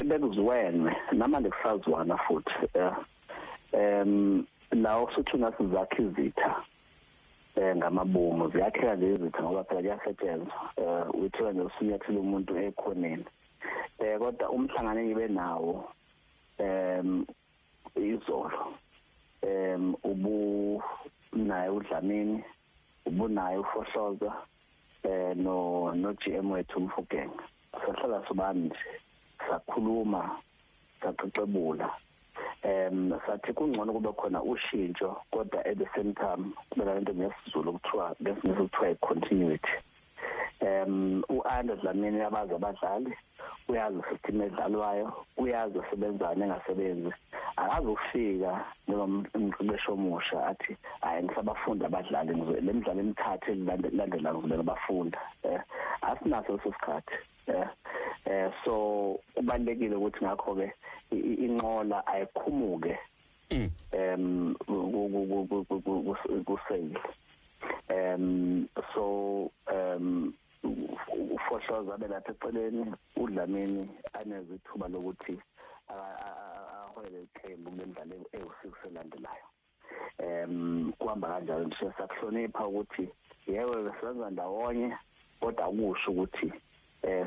bekuziwenwe namanje kusazwana futhi eh, em la osuthi nasizakha izitha eh ngamabomu ziyakheka nje izitha ngoba phela kuyasetshenzwa eh withiwa nje usunyathela umuntu ekhoneni eh kodwa umhlangano engibe nawo em izolo em ubu naye udlamini ubunaye ufohlozwa eh no no GM wethu umfugeng sahlala sobani nje sakhuluma saxoxebula em sathi kungcono kube khona ushintsho kodwa at the same time kubeka lento ngesizulu kuthiwa ngesizulu kuthiwa continuity um u-andre dlamini uyabazi abadlali uyazi system edlalwayo uyazi osebenzane engasebenzi akazi ukufika njengomqeqeshi omusha athi hayi ngisabafunda abadlali le midlalo emithathu elilandela ngizobeka bafunda um eh, asinaso leso sikhathi um eh, so kubalulekile ukuthi ngakho-ke inqola ayikhumuke um kuseyile um so um ufohloza abe lapha eceleni udlamini anezithuba lokuthi ahole iqembu kule mdlalo ewu-six elandelayo um kuhamba kanjalo nje sakuhlonipha ukuthi yebo besenza ndawonye kodwa kusho ukuthi um